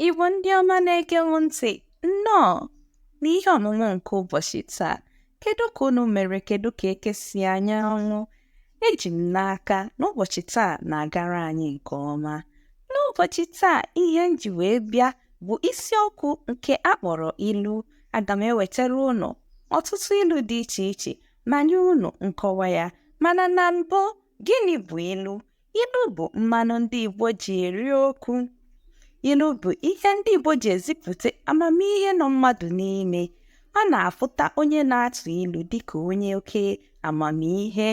Igbo ndị ọma na-ege m ntị nnọọ n'ihe ọmụmụ nke ụbọchị taa kedu ka unu mere kedu ka eke si anya anwụ eji m n'aka na ụbọchị taa na-agara anyị nke ọma n'ụbọchị taa ihe m ji wee bịa bụ isiokwu nke a kpọrọ ilu aga m ewetara unu ọtụtụ ilu dị iche iche ma nye unu nkọwa ya mana na mbụ gịnị bụ ilu Ilu bụ mmanụ ndị Igbo ji eri okwu. Ilu bụ ihe ndị Igbo ji ezipụta amamihe nọ mmadụ n'ime. A na-afụta onye na-atụ ilu dịka onye oke amamihe.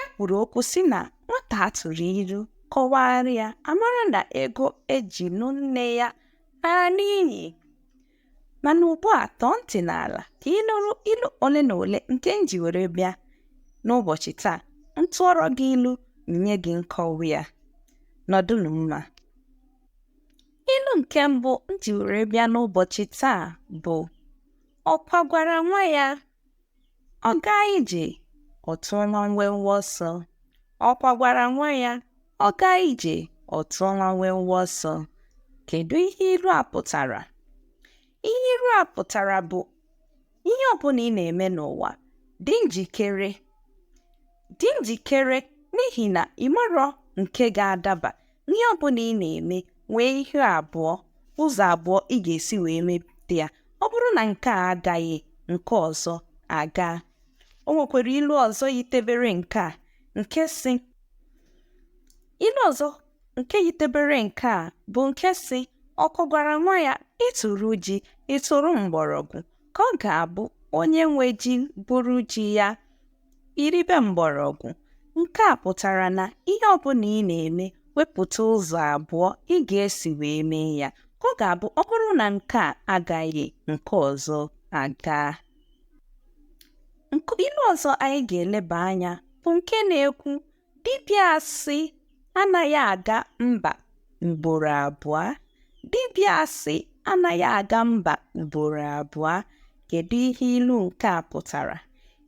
E kwuru okwu sị na nwata a tụụrụ ilu kọwara ya a mara na ego e ji nụ nne ya laa n'iyi. mana ugbu a tọọ ntị n'ala ka ị nụrụ ilu ole na ole nke m ji were bịa n'ụbọchị taa m tụọrọ gị ilu nye gị nkọwa ya nọdụnụ mma ilu nke mbụ m ji were bịa n'ụbọchị taa bụ ọkwa gwara nwa ya Ọ gaa ije, ọ tụọ nwa nwe nwa ọsọ. Ọkwa gwara nwa ya, ọ gaa ije, ọ tụọ nwa nwe nwa ọsọ. Kedu ihe ilu a pụtara? Ihe ilu a pụtara bụ ihe ọbụla ị na-eme n'ụwa, dị njikere. Dị njikere n'ihi na ị marọ nke ga-adaba Ihe ọ bụla ị na-eme nwee ihe abụọ ụzọ abụọ ị ga-esi wee mepụta ya ọ bụrụ na nke a agaghị nke ọzọ agaa o nwekwara ilu ọzọ yitebere nke a nke sị ilu ọzọ nke yitebere nke a bụ nke sị ọkwa gwara nwa ya ị tụrụ ji ị tụrụ mgbọrọgwụ ka ọ ga-abụ onye nwe ji buru ji ya I ribe mgbọrọgwụ. Nke a pụtara na ihe ọ bụla ị na-eme, wepụta ụzọ abụọ ị ga-esi wee mee ya. Ka ọ ga-abụ ọ bụrụ na nke a agaghị, nke ọzọ agaa. Ilu ọzọ anyị ga-eleba anya bụ nke na-ekwu Dibịa asị anaghị aga mba ugboro abụọ. Dibịa asị anaghị aga mba ugboro abụọ. Kedu ihe ilu nke a pụtara?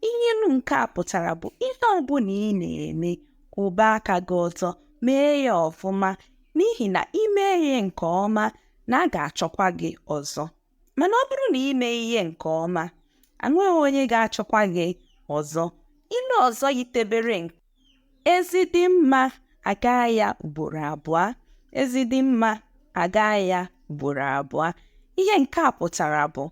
Ihe ilu nke a pụtara bụ ihe ọbụla ị na-eme kwụba aka gị ọtọ mee ya ọfụma n'ihi na i mee ihe nke ọma na a ga-achọkwa gị ọzọ. Mana ọ bụrụ na ị mee ihe nke ọma, enweghị onye ga-achọkwa gị ọzọ. Ilu ọzọ yitebere nke ezi dị mma a gaa ya ugboro abụọ ezi dị mma a gaa ya ugboro abụọ ihe nke a pụtara bụ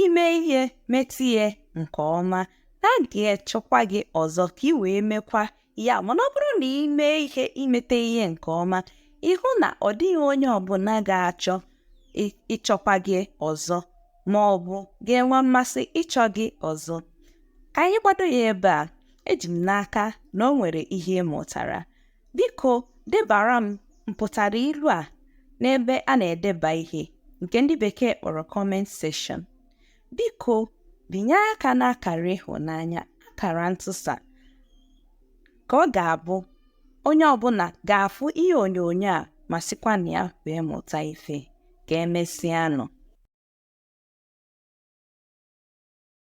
i mee ihe metụ ihe nke ọma na a ga-achọkwa gị ọzọ ka ị wee mekwa ya mana ọ bụrụ na i mee ihe i mete ihe nke ọma ị hụ na ọ dịghị onye ọbụna ga-achọ ịchọkwa gị ọzọ ma ọ bụ ga-enwe mmasị ịchọ gị ọzọ ka anyị gbado ya ebe a eji m n'aka na o nwere ihe ị mụtara biko debara m mpụtara ilu a n'ebe a na-edeba ihe nke ndị bekee kpọrọ comment section Biko binye aka n'akara ịhụnanya akara ntụsa ka ọ ga-abụ onye ọbụna ga-afụ ihe onyonyo a ma sikwa na ya wee mụta ife ka emesịanụ